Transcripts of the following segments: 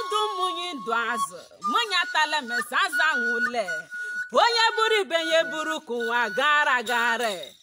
ndụ mmụnyi ndụ azụ mmụnyi atala mesa azụ anwụle onye buru ibe ya buru ka ụwa gara gara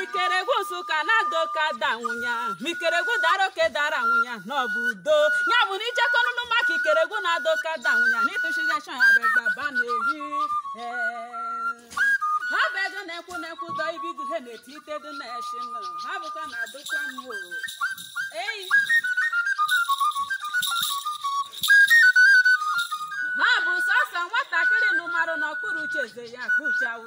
ikeregwu nsụka na-ada oke ada nwụnya ma ikeregwu dara oke dara nwụnya na ọ bụ udo ya bụ na ijekọnụnụ maka ikeregwu na-ada oke ada nwụnya na ịtụchigachọ ya bụ gbaba na-eyi ha bụ ego na-ekwu na-ekwu dọ ibidu ha na-eti ite dị na-eshi nụ ha bụkwa na adụkwa m o ei ha bụ sọsọ nwatakịrị nụmarụ n'okpuru uche eze ya kpuchawo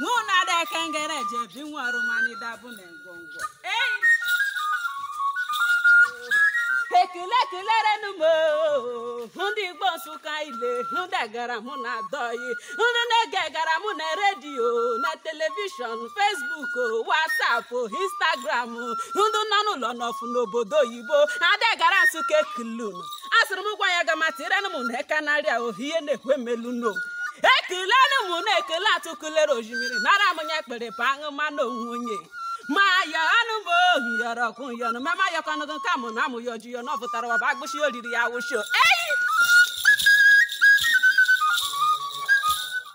mụ na ada ekengere ji ebi nwa ọrụmanida bụ na ngwongwo ei ekele kelerenu m oo. ndị igbo nsụka ile ndị gara mụ na adọghị ndị na-ege gara mụ na redio na telivishọn fesbuk wasapụ instagram ndị nọ n'ụlọ n'ọfụ n'obodo oyibo adagara nsụka ekulu asịrị m gwa nya ga ma tirenụ m na eka narị a ohie na-ekwe melu no ekelenụ m na ekele atụkụlere ojimiri nara m nya kpere pa aṅụ mmanụ onwe onye ma ya anụ m ohi yọrọ kụ yọnụ ma ma yọkọnụgụ nka mụ na amụ ya oji yọnụ ọ pụtara ọba agbụsị oriri ya wụsho eyi